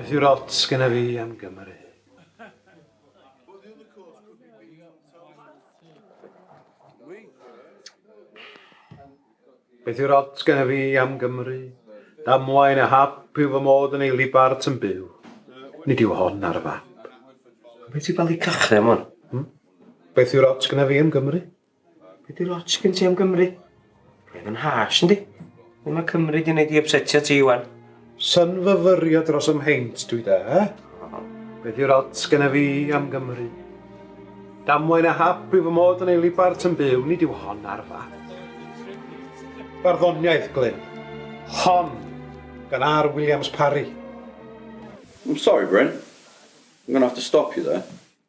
Beth yw'r ots gyda fi am Gymru? Beth yw'r ots gyda fi am Gymru? Damwain a hap yw fy mod yn ei libart yn byw. Nid yw hon ar y fap. Beth yw'r bali cachrau am hwn? Hmm? Beth yw'r ots gyda fi am Gymru? Be di lots gen ti am Gymru? Roedd yn harsh, yndi? Be mae Cymru di wneud i upsetio ti, Iwan? Synfyfyrio dros ym mheint, dwi da, he? Be di lots gen fi am Gymru? Damwain a hap i fy mod yn ei libart yn byw, nid yw hon ar fath. Barddoniaeth, Glyn. Hon, gan R. Williams Parry. I'm sorry, Bryn. I'm gonna have to stop you there.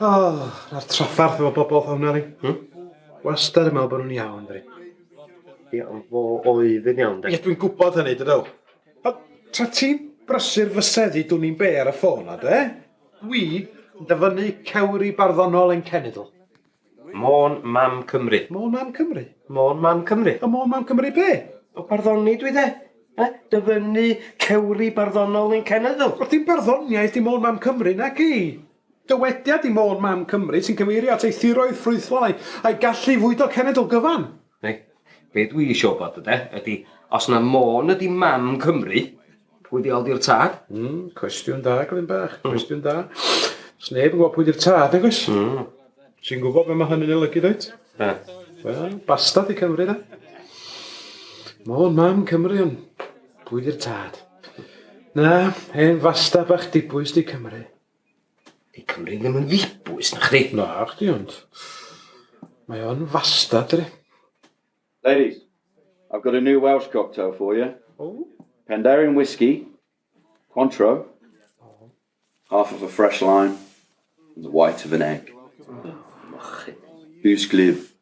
O, mae'r traffarth efo bobl hwn, Elin. Hmm? Wastad yn meddwl bod nhw'n iawn, dwi. Ie, ond fo oedd yn iawn, de. Ie, dwi'n gwybod hynny, dydw. O, tra ti'n brysur fy seddi, dwn i'n be ar y ffôn, a de? Dwi yn dyfynnu cewri barddonol ein cenedl. Môn Mam Cymru. Môn Mam Cymru. Môn Mam Cymru. Y Môn Mam Cymru be? O barddoni dwi de. Eh? Dyfynnu cewri barddonol i'n cenedl. Wel dim barddoniaeth di Môn Mam Cymru na ci. Dywediad i Môn Mam Cymru sy'n cyfeirio at ei thiroedd ffrwythlon a'i, a'i gallu i fwydo cenedl gyfan. Neu, be dwi isio wybod, yde, ydy, os na Môn ydy mam Cymru, pwy di ol di'r tad? Mm, cwestiwn da, Glyn Bach, hmm. cwestiwn da. Os neb yn gwybod pwy di'r tad, nag oes? Mm. Ti'n gwybod beth mae hynny'n olygu, dweud? Da. Wel, bastad i Cymru, da. Môn, mam Cymru, ond pwy di'r tad? Na, hen fasta bach dibwys di Cymru. Di Cymru ddim yn ddibwys, na chdi? Na, chdi ond. Mae o'n fasta, dri. Ladies, I've got a new Welsh cocktail for you. Oh. Penderyn whiskey, Contro, oh. half of a fresh lime, and the white of an egg. Oh. Mochyn. Who's glib?